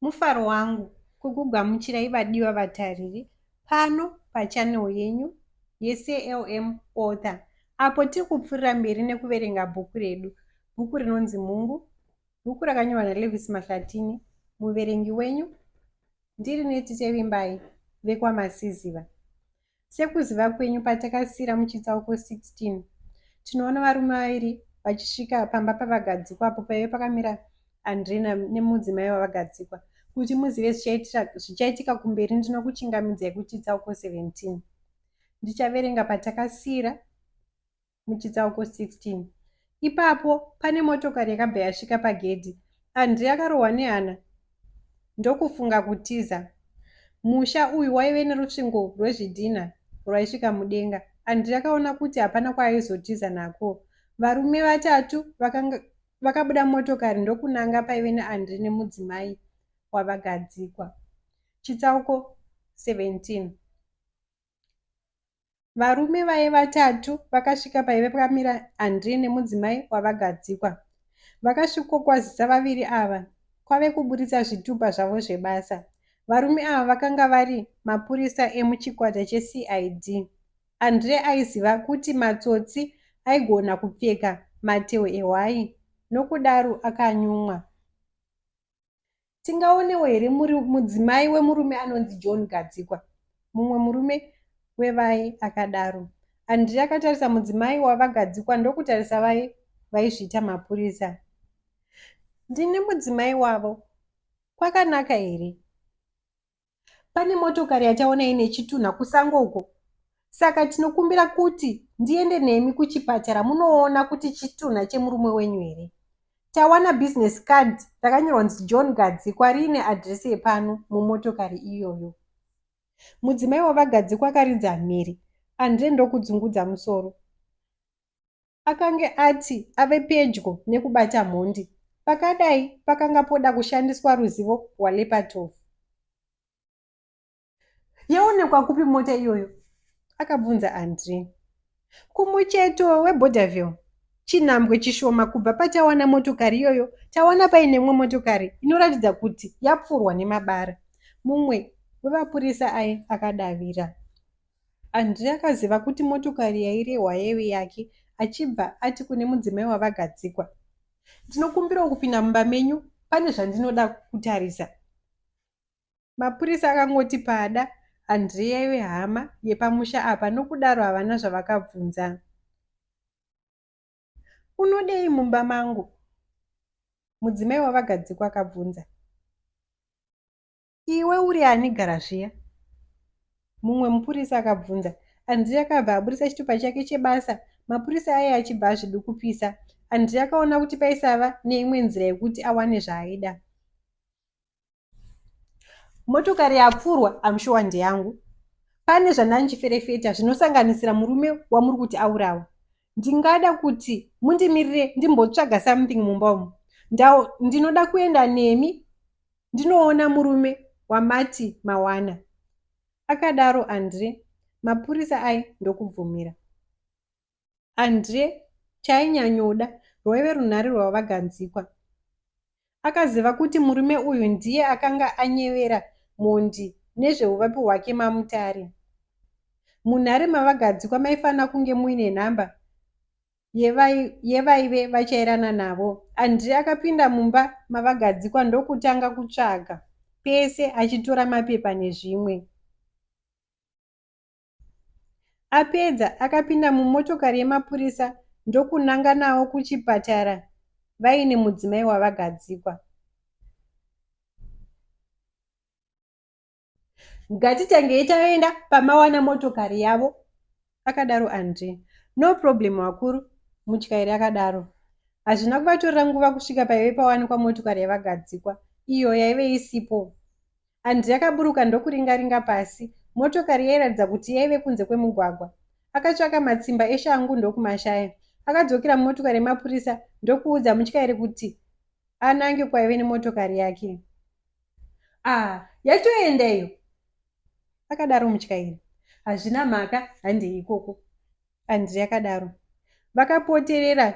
Mufaro wangu kukugamuchirai vadiwa vatariri pano pachanel yenyu yeCLM Author apo tiri kupfuurira mberi nekuverenga bhuku redu. Bhuku rinonzi Mhungu, bhuku rakanyorwa naLevis Mahlatini, muverengi wenyu ndiri Neti Tevimbai vekwaMasiziva. Sekuziva kwenyu patakasiira muchitsauko 16 tinoona varume vaviri vachisvika pamba pavagadzikwa apo paive pakamira andrina nemudzimai wavagadzikwa kuti muzive zvichaitika kumberi ndinokuchingamidzai kuchitsauko 17 ndichaverenga patakasiira muchitsauko 16 ipapo pane motokari yakabva yasvika pagedhi andrey akarohwa nehana ndokufunga kutiza musha uyu waive nerusvingo rwezvidhinha rwaisvika mudenga andrey akaona kuti hapana kwaaizotiza nako varume vatatu vakanga vakabuda motokari ndokunanga paive neandri nemudzimai wavagadzikwa chitsauko 17 Varume vaye vatatu vakasvika paive pakamira Andre nemudzimai wavagadzikwa. Vakasvikokwazisa vaviri ava kwave kuburitsa zvitupa zvavo zvebasa. Varume ava vakanga vari mapurisa emuchikwata cheCID. Andre aiziva kuti matsotsi aigona kupfeka matehwe ehwai nokudaro akanyumwa. Tingaonewo here mudzimai wemurume anonzi John Gadzikwa? Mumwe murume wevaye akadaro. Andri akatarisa mudzimai wavagadzikwa ndokutarisa vaye vaizviita mapurisa. Ndini mudzimai wavo. Kwakanaka here? pane motokari yataona ine chitunha kusango uko saka tinokumbira kuti ndiende nemi kuchipatara munoona kuti chitunha chemurume wenyu here tawana business card rakanyorwa nzi john gadzikwa riine adresi yepano mumotokari iyoyo mudzimai wavagadzikwa akaridza mhiri andre ndokudzungudza musoro Akange ati ave pedyo nekubata mhondi. Pakadai pakanga poda kushandiswa ruzivo rwaLepatov. Yaonekwa kupi mota iyoyo? akabvunza Andre. Kumucheto weBorderville, chinhambwe chishoma kubva patawana motokari iyoyo, tawana paine imwe motokari inoratidza kuti yapfurwa nemabara, mumwe wevapurisa aye akadavira. André akaziva kuti motokari yairehwa yaive yake achibva ati kune mudzimai wavagadzikwa, Ndinokumbirawo kupinda mumba menyu pane zvandinoda kutarisa. Mapurisa akangoti paada André yaive hama yepamusha apa nokudaro havana zvavakabvunza. Unodei mumba mangu? Mudzimai wavagadzikwa akabvunza. Iwe uri ani gara zviya? Mumwe mupurisa akabvunza. Andrea akabva aburitsa chitupa chake chebasa mapurisa aye achibva azvidukupisa. Andrea akaona kuti paisava neimwe nzira yekuti awane zvaaida. Motokari yapfurwa amshuwa ndeyangu. Pane zvandandichiferefeta zvinosanganisira murume wamuri kuti aurawa. Ndingada kuti mundimirire ndimbotsvaga something mumba umu. Ndinoda kuenda nemi ndinoona murume wamati mawana, akadaro Andre. Mapurisa aye ndokubvumira. Andre chainyanyoda rwaive runhare rwavaganzikwa. Akaziva kuti murume uyu ndiye akanga anyevera mhondi nezveuvapi hwake mamutare. Munhare mavagadzikwa maifanira kunge muine nhamba yevaive vachairana navo. Andrei akapinda mumba mavagadzikwa ndokutanga kutsvaga pese achitora mapepa nezvimwe. Apedza akapinda mumotokari yemapurisa ndokunanga nawo kuchipatara vaine mudzimai wavagadzikwa. ngatitangei taenda pamawana motokari yavo akadaro andre no problem wakuru mutyairi akadaro hazvina kuvatorera nguva kusvika paive pawanikwa motokari yavagadzikwa iyo yaive isipo andre akaburuka ndokuringaringa pasi motokari yairatidza kuti yaive kunze kwemugwagwa akatsvaka matsimba eshangu ndokumashaya akadzokera mumotokari yemapurisa ndokuudza mutyairi kuti anange kwaive nemotokari yake ah yatoenda iyo akadaro mutyairi hazvina mhaka handei ikoko andri akadaro vakapoterera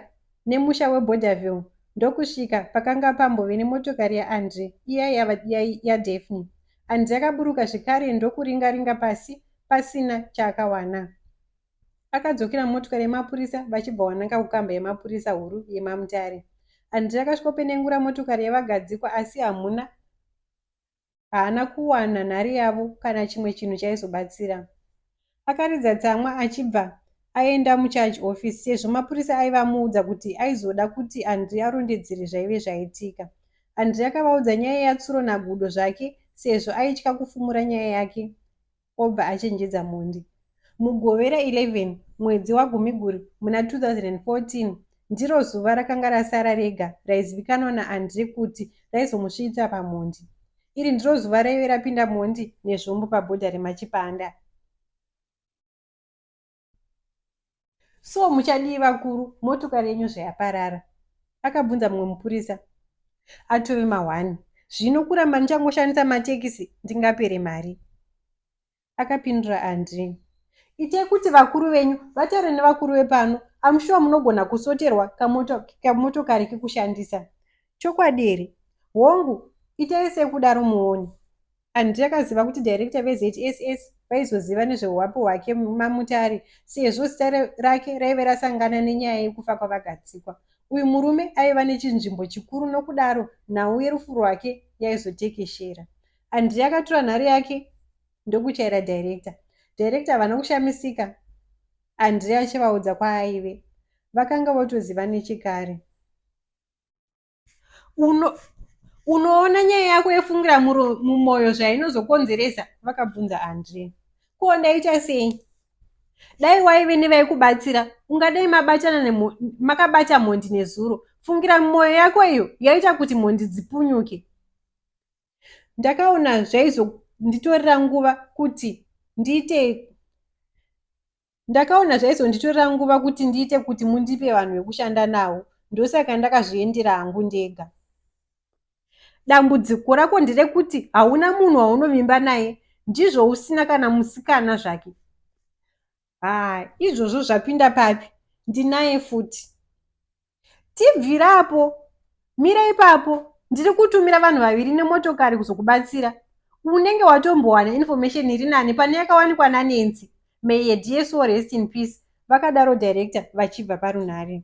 nemusha weboderville ndokusvika pakanga pambove nemotokari yaandri iya yadefni ya, ya andri akaburuka zvekare ndokuringaringa pasi pasina chaakawana Akadzokera mumotokari yemapurisa vachibva wananga kukamba yemapurisa huru yemaMutare. Handiti akasvikopenengura motokari yevagadzikwa asi hamuna haana kuwana nhare yavo kana chimwe chinhu chaizobatsira. Akaridza tsamwa achibva aenda mucharge office sezvo mapurisa aiva amuudza kuti aizoda kuti Andri arondedzere zvaive zvaitika. Andri akavaudza nyaya yatsuro nagudo zvake sezvo aitya kufumura nyaya yake obva achenjedza mhondi. Mugovera 11 mwedzi waGumiguru muna 2014, ndiro zuva rakanga rasara rega raizivikanwa naAndré kuti raizomusvitsa pamhondi. Iri ndiro zuva raive rapinda mhondi nezvombo pabhodha reMachipanda. So muchadii vakuru motokari yenyu zvayaparara? Akabvunza mumwe mupurisa atove mahwani. Zvino kuramba ndichangoshandisa matekisi ndingapere mari. Akapindura Andri. Itai kuti vakuru venyu vataure nevakuru vepano amushuwa munogona kusoterwa kamotokari kekushandisa. Chokwadi here? Hongu, itai sekudaro muone. Andy akaziva kuti director veZSS vaizoziva nezvehuwapi hwake maMutare sezvo zita rake raive rasangana nenyaya yekufa kwaVaGadzikwa. Uyu murume aiva nechinzvimbo chikuru nokudaro nhau yerufu rwake yaizotekeshera. Andy akatura nhare yake ndokuchaira director. Director havana kushamisika Andy achivaudza kwaaive. Vakanga votoziva nechekare. uno unoona nyaya yako yefungira mumwoyo zvainozokonzeresa vakabvunza andre ko ndaita sei dai waive nevaikubatsira ungadai mabatana makabata mhondi nezuro fungira mwoyo yako iyo yaita kuti mhondi dzipunyuke ndakaona zvaizonditorera nguva kuti ndiite Ndakaona zvaizonditorera nguva kuti ndiite kuti mundipe vanhu vekushanda navo ndosaka ndakazviendera hangu ndega. Dambudziko rako nderekuti hauna munhu waunovimba naye ndizvo usina kana musikana zvake. Haa izvozvo zvapinda papi ndinaye futi. tibvira apo mira ipapo ndiri kutumira vanhu vaviri nemotokari kuzokubatsira unenge watombowana information iri nani pane yakawanikwa nanensi may a dear soul rest in peace vakadaro director vachibva parunhare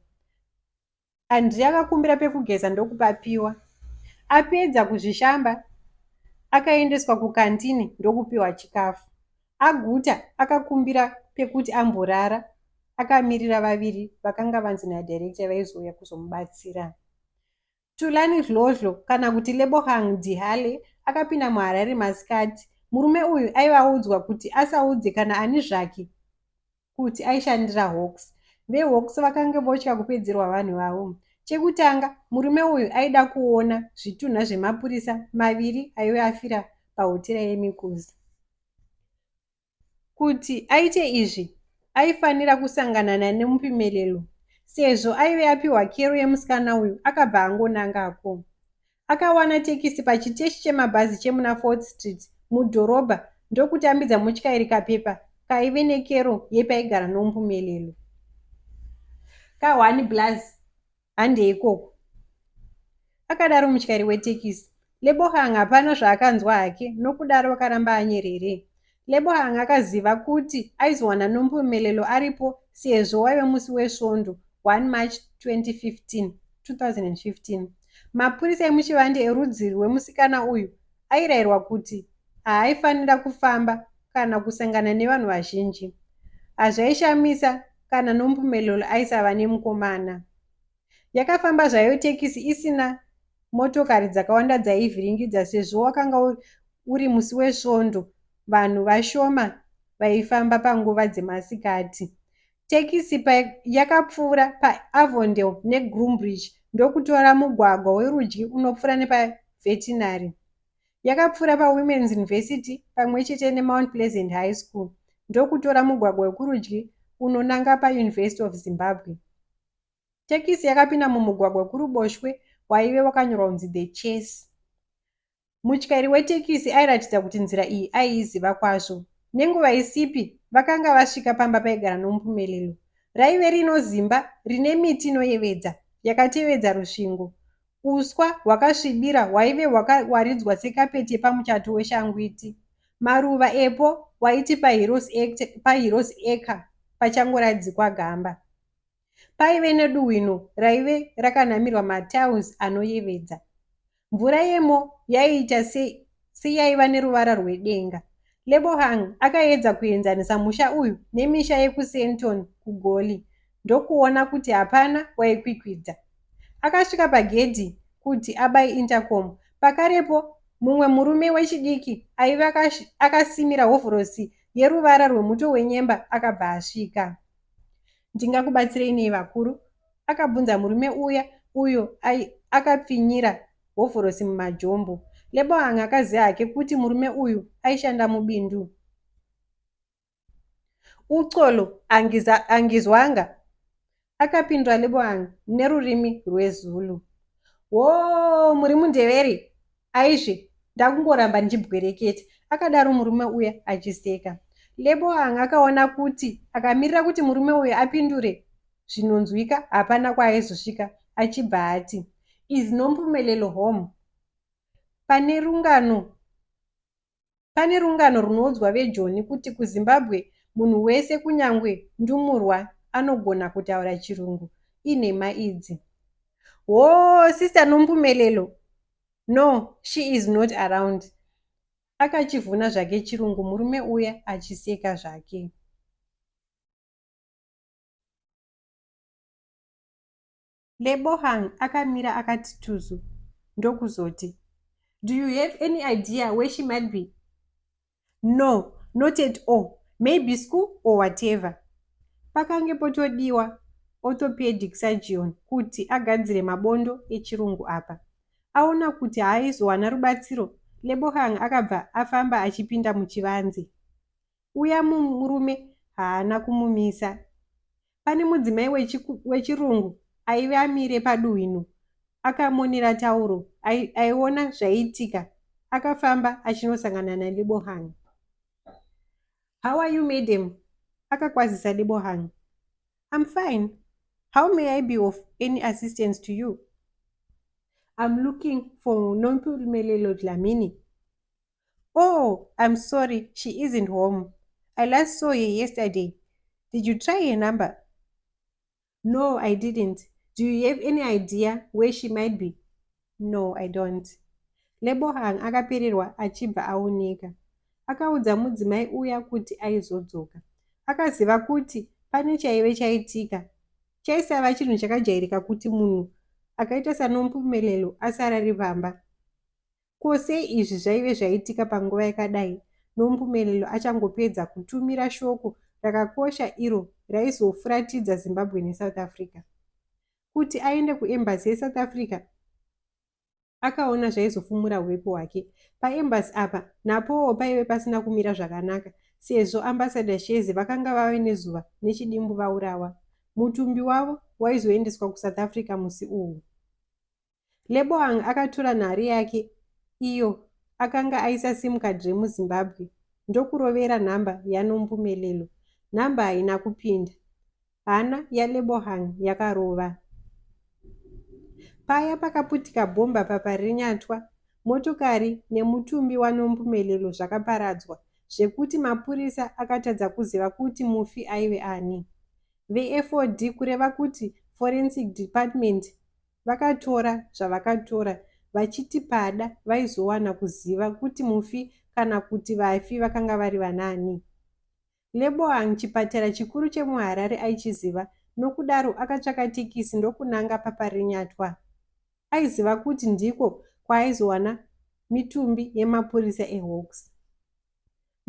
andri akakumbira pekugeza ndokupapiwa apedza kuzvishamba akaendeswa kukantini ndokupiwa chikafu Aguta akakumbira pekuti amborara akamirira vaviri vakanga vanzi nadirector vaizouya kuzomubatsira. Thulani Dlodlo kana kuti Lebogang Dihale akapinda muHarare masikati. Murume uyu aiva audzwa kuti asaudze kana ani zvake kuti aishandira hawks vehawks vakange votya kupedzerwa vanhu vavo chekutanga murume uyu aida kuona zvitunha zvemapurisa maviri aive afira pahotera yemikuzi kuti aite izvi aifanira kusanganana nemupimelelo sezvo aive apiwa kero yemusikana uyu akabva angonangako Akawana tekisi pachiteshi chemabhazi chemuna Fourth Street mudhorobha ndokutambidza mutyairi kapepa kaive nekero yepaigara noMpumelelo. Kahwani blaz, handei ikoko, akadaro mutyairi wetekisi. Lebogang hapana zvaakanzwa hake nokudaro akaramba anyerere. Lebo anga akaziva kuti aizowana nombomelelo aripo sezvo waive musi weSvondo 1 March 2015, 2015. Mapurisa emuchivande erudzi rwemusikana uyu airayirwa kuti haaifanira kufamba kana kusangana nevanhu vazhinji. Hazvaishamisa kana nombomelelo aisava nemukomana. Yakafamba zvayo tekisi isina motokari dzakawanda dzaivhiringidza sezvo wakanga uri musi wesvondo vanhu vashoma vaifamba panguva dzemasikati. Tekisi yakapfuura paAvondale neGroombridge ndokutora mugwagwa werudyi unopfuura nepaVetinary. Yakapfuura paWomen's University pamwe chete neMount Pleasant High School ndokutora mugwagwa wekurudyi unonanga paUniversity of Zimbabwe. Tekisi yakapinda mumugwagwa wekuruboshwe waive wakanyorwa kunzi The Chase. Mutyairi wetekisi airatidza kuti nzira iyi aiiziva kwazvo. Nenguva isipi, vakanga vasvika pamba paigara Nompumelelo. Raive rinozimba, rine miti inoyevedza, yakatevedza rusvingo. Uswa hwakasvibira hwaive hwakawaridzwa sekapeti yepamuchato weshangwiti. Maruva epo waiti paHeroes Acre pachangoradzikwa gamba. Paive neduwino raive rakanamirwa matiles anoyevedza. Mvura yemo yaiita seyaiva neruvara rwedenga. Lebohang akaedza kuenzanisa musha uyu nemisha yekuSenton kuGoli ndokuona kuti hapana waikwikwidza. Akasvika pagedhi kuti abaye intercom. Pakarepo mumwe murume wechidiki aive akasimira hovhorosi yeruvara rwemuto wenyemba akabva asvika. Ndingakubatsirei nei vakuru? akabvunza murume uya uyo akapfinyira hovhorosi mumajombo. Leboang akaziva hake kuti murume uyu aishanda mubindu. Uxolo angizwanga, akapindura Leboang nerurimi rweZulu. Woo, muri mundeveri? Aizve ndakungoramba ndichibwereketa, akadaro murume uya achiseka. Lebo anga akaona kuti akamirira kuti murume uyu apindure zvinonzwika hapana kwaaizosvika achibva ati, Is Nompumelelo home? Pane rungano Pane rungano runoudzwa vejoni kuti kuZimbabwe munhu wese kunyangwe ndumurwa anogona kutaura chirungu. Inhema idzi. Hoo sister Nompumelelo no she is not around. Akachivhuna zvake chirungu murume uya achiseka zvake. Lebohang akamira akati tuzu ndokuzoti, Do you have any idea where she might be? No, not at all. Maybe school or whatever. Pakange potodiwa orthopedic surgeon kuti agadzire mabondo echirungu apa. Aona kuti haaizowana rubatsiro, Lebohang akabva afamba achipinda muchivanze. uya murume haana kumumisa. Pane mudzimai wechirungu aive amire paduhwino akamonera tauro aiona zvaiitika akafamba achinosangana nadebohang how are you madam akakwazisa debohang im fine how may i be of any assistance to you im looking for nompumelelo dlamini Oh, I'm sorry, she isn't home. I last saw her yesterday. Did you try her number? No, I didn't. Do you have any idea where she might be? No, I don't. Lebohang akapererwa achibva aoneka. Akaudza mudzimai uya kuti aizodzoka. Akaziva kuti pane chaive chaitika. Chaisava chinhu chakajairika kuti munhu akaita sanompumelelo asarari vamba. Ko sei izvi zvaive zvaitika panguva yakadai Nompumelelo achangopedza kutumira shoko rakakosha iro raizofuratidza Zimbabwe neSouth Africa? Kuti aende kuembassy yeSouth Africa akaona zvaizofumura uvepo hwake. Paembassy apa napowo paive pasina kumira zvakanaka sezvo ambassador Shezi vakanga vave nezuva nechidimbu vaurawa. Mutumbi wavo waizoendeswa kuSouth Africa musi uhu. Leboang akatura nhare yake iyo akanga aisa sim card remuzimbabwe ndokurovera nhamba yanompumelelo nhamba haina kupinda hana yalebohang yakarova paya pakaputika bhomba paparinyatwa motokari nemutumbi wanompumelelo zvakaparadzwa zvekuti mapurisa akatadza kuziva kuti mufi aive ani vefod kureva kuti forensic department Vakatora zvavakatora vachiti pada vaizowana kuziva kuti mufi kana kuti vafi vakanga vari vanaani. Leboang chipatara chikuru chemuHarare aichiziva nokudaro akatsvaka tekisi ndokunanga paParirenyatwa. Aiziva kuti ndiko kwaaizowana mitumbi yemapurisa eHawks.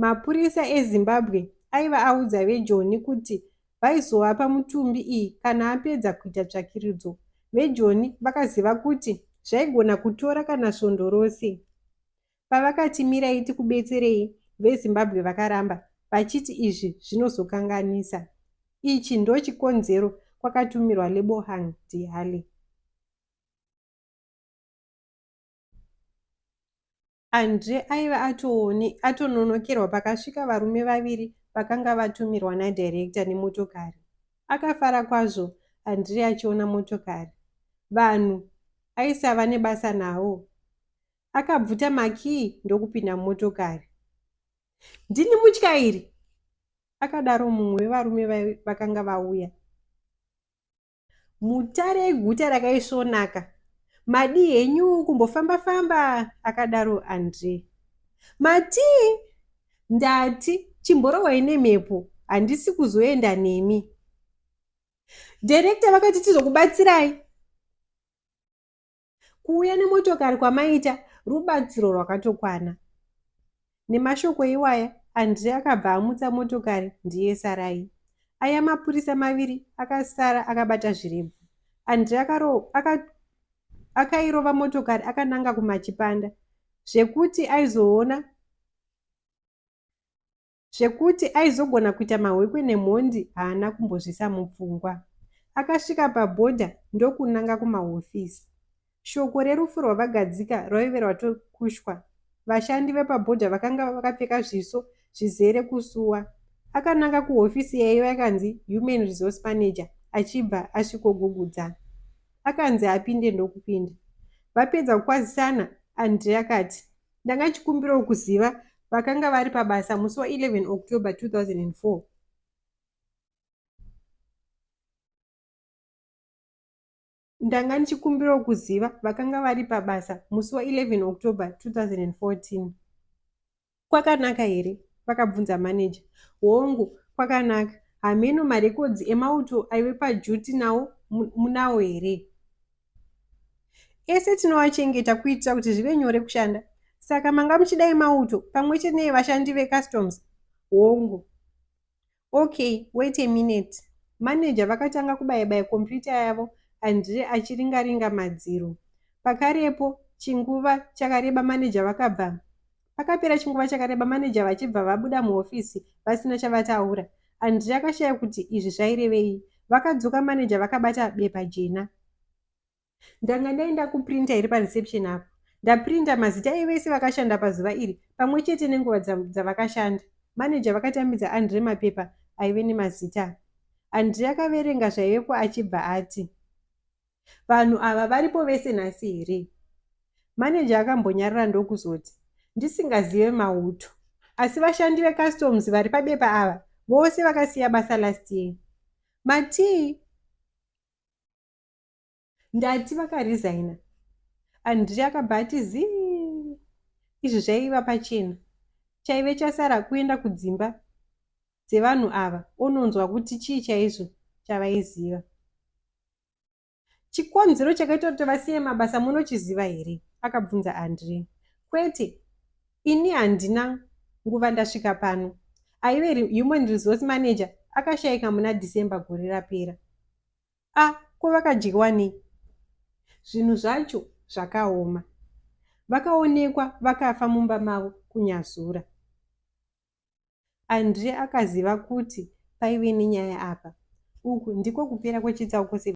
Mapurisa eZimbabwe aiva audza vejoni kuti vaizovapa mutumbi iyi kana apedza kuita tsvakiridzo. Vejoni vakaziva kuti zvaigona kutora kana svondo rose. Pavakati mirai tikubetserei, veZimbabwe vakaramba vachiti izvi zvinozokanganisa. Ichi ndochikonzero kwakatumirwa Lebohang Dihale. Andre aive atoone atononokerwa pakasvika varume vaviri vakanga vatumirwa nadirector nemotokari. Akafara kwazvo Andre achiona motokari. Vanhu aisava nebasa navo. Akabvuta makii ndokupinda mumotokari. Ndini mutyairi! Akadaro mumwe wevarume vakanga vauya. Mutare eguta rakaisvonaka, madii henyu kumbofamba famba? akadaro Andre. Matii? Ndati chimborohwai nemhepo, handisi kuzoenda nemi. Director vakati tizokubatsirai. Kuuya nemotokari kwamaita rubatsiro rwakatokwana. Nemashoko iwaya, Andre akabva amutsa motokari ndiye Sarai. Aya mapurisa maviri akasara akabata zvirebvu. Andre akaro, aka, akairova motokari akananga kumachipanda zvekuti aizoona Zvekuti aizogona kuita mahwekwe nemhondi haana kumbozvisa mupfungwa. Akasvika pabhodha ndokunanga kumahofisi. Shoko rerufu rwaVagadzika rwaive rwatokushwa. Vashandi vepabhodha vakanga vakapfeka zviso zvizere kusuwa. Akananga kuhofisi yaiva yakanzi Human Resource Manager achibva asvikogugudza. Akanzi apinde ndokupinda. Vapedza kukwazisana, Andre akati, Ndanga chikumbiro kuziva vakanga vari pabasa musi wa 11 October 2004. Ndanga ndichikumbirawo kuziva vakanga vari pabasa musi wa 11 October 2014. Kwakanaka here? vakabvunza maneja. Hongu, kwakanaka. Hameno marekodzi emauto aive pajuti nawo munawo here? Ese tinovachengeta kuitira kuti zvive nyore kushanda. Saka manga muchida emauto pamwe chete nevashandi vecustoms? Hongu. Okay, wait a minute. Manager vakatanga kubaya-baya kompiyuta yavo Andre achiringa-ringa madziro. Pakarepo chinguva chakareba manager vakabva Pakapera chinguva chakareba maneja vachibva vabuda muhofisi vasina chavataura. Andrea akashaya kuti izvi zvairevei. Vakadzoka maneja vakabata bepa jena. Ndanga ndaenda kuprinta iri pareception apo. Ndaprinta mazita evese vakashanda pazuva iri pamwe chete nenguva dzavakashanda. Maneja vakatambidza Andre mapepa aive nemazita. Andre akaverenga zvaivepo achibva ati, Vanhu ava varipo vese nhasi here? Maneja akambonyarara ndokuzoti, Ndisingazive mauto. Asi vashandi vecustoms vari pabepa ava vose vakasiya basa last year. Matii? Ndati vakarizaina. Andri akabva ati zii. Izvi zvaiva pachena. Chaive chasara kuenda kudzimba dzevanhu ava ononzwa kuti chii chaizvo chavaiziva. Chikonzero chakaita kuti vasiye mabasa munochiziva here? akabvunza Andre. Kwete, ini handina nguva ndasvika pano. Aive human resource manager akashaika muna December gore rapera. A, ah, ko vakadyiwa nei? Zvinhu zvacho zvakaoma. Vakaonekwa vakafa mumba mavo kunyazura. Andre akaziva kuti paive nenyaya apa. Uku ndiko kupera kwechitsauko 17.